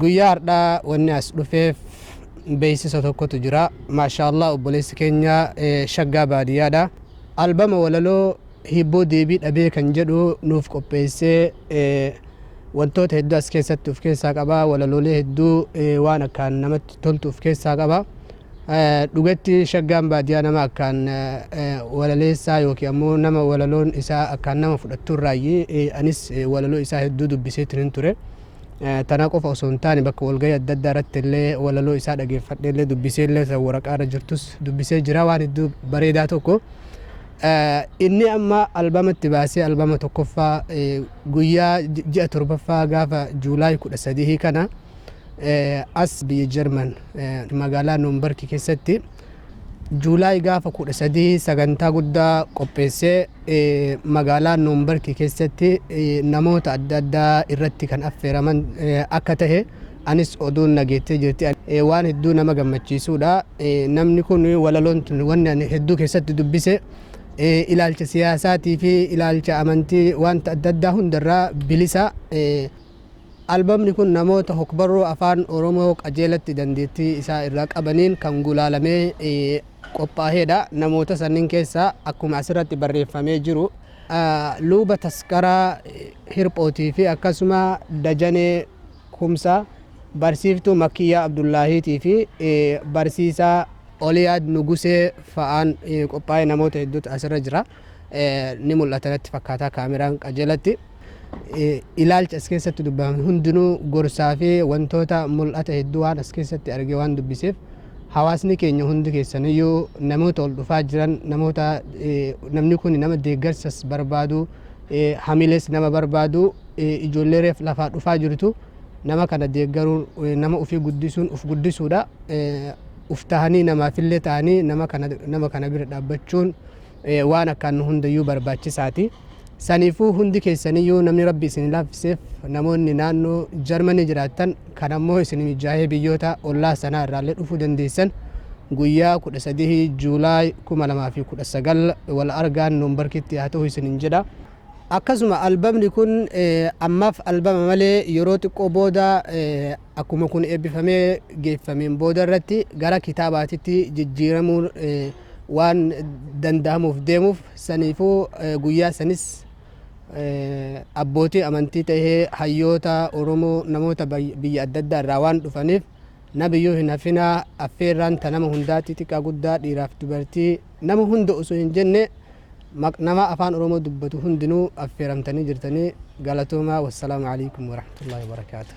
Guyyaa hardhaa wanni as dhufeef beeksisa tokkotu jira. Maashaallah obboleessi keenya shaggaa baadiyyaadha. Albama walaloo hibboo deebii dhabee kan jedhu nuuf qopheessee wantoota hedduu as keessatti of keessaa qaba. Walaloolee hedduu waan akkaan namatti toltu of keessaa qaba. Dhugatti Shaggaan baadiyaa nama akkaan walaleessaa yookiin ammoo nama walaloon isaa akkaan nama fudhattu irraayyi. Anis walaloo isaa hedduu dubbiseetinin ture. Tana qofa osoo hin taane bakka walgahii adda addaa irratti illee walaloo isaa dhageeffadhee illee dubbisee illee isa waraqaa irra jirtus dubbisee jira waan hedduu bareedaa tokko. Inni amma albamatti baasee albama tokkoffaa guyyaa ji'a torbaffaa gaafa Juulaay kudha sadihii kana as biyya Jarman magaalaa Noombarki keessatti Juulaay gaafa 13 sagantaa guddaa qopheessee magaalaa Noombarki keessatti namoota adda addaa irratti kan affeeraman akka ta'e anis oduun nageettee jirti. Waan hedduu nama gammachiisuudha. Namni kun walaloon tun wanni ani hedduu keessatti dubbise ilaalcha siyaasaatii fi ilaalcha amantii wanta adda addaa hundarraa bilisa. Albamni kun namoota hokbarruu Afaan Oromoo qajeelatti dandeettii isaa irraa qabaniin kan gulaalamee qophaaheedha. Namoota sanniin keessaa akkuma asirratti barreeffamee jiru Luuba Taskaraa Hirphootiifi akkasuma Dajanee Kumsaa, Barsiiftuu Makkiyyaa Abdullaahiitiifi Barsiisaa Oliyaad Nugusee fa'aan qophaa'ee namoota hedduutu asirra jira. ni mul'ata natti fakkaataa kaameraan qajeelatti. Ilaalchi as keessatti dubbifame hundinuu gorsaa fi wantoota mul'ata hedduu waan as keessatti argee waan dubbiseef hawaasni keenya hundi keessaniyyuu namoota ol dhufaa jiran namoota namni kun nama deeggarsas barbaadu hamilees nama barbaadu ijoollee reef lafaa dhufaa jirtu nama kana deeggaruun nama ofii guddisuun of guddisuudha. Uf tahanii namaafillee tahanii nama kana bira dhaabbachuun waan akkaan hundayyuu barbaachisaati. Saniifuu hundi keessaniyyuu namni rabbi isin laaffiseef namoonni naannoo Jarmanii jiraattan kan ammoo isin mijaahee biyyoota ollaa sanaa irraallee dhufuu dandeessan guyyaa 13 Juulaay 2019 wal argaan Noombarkitti haa ta'u isinin jedha. Akkasuma albamni kun ammaaf albama malee yeroo xiqqoo booda akkuma kun eebbifamee geeffameen booda irratti gara kitaabaatitti jijjiiramuun waan danda'amuuf deemuuf saniifuu guyyaa sanis abbootii amantii ta'ee hayyoota Oromoo namoota biyya adda addaa irraa waan dhufaniif nabiyyuu hin hafinaa affeerraan ta nama hundaa xixiqqaa guddaa dhiiraaf dubartii nama hunda osoo hin jenne nama afaan Oromoo dubbatu hundinuu affeeramtanii jirtanii galatoomaa wassalaamu alaikum warahmatullaahi wabarakaatuh.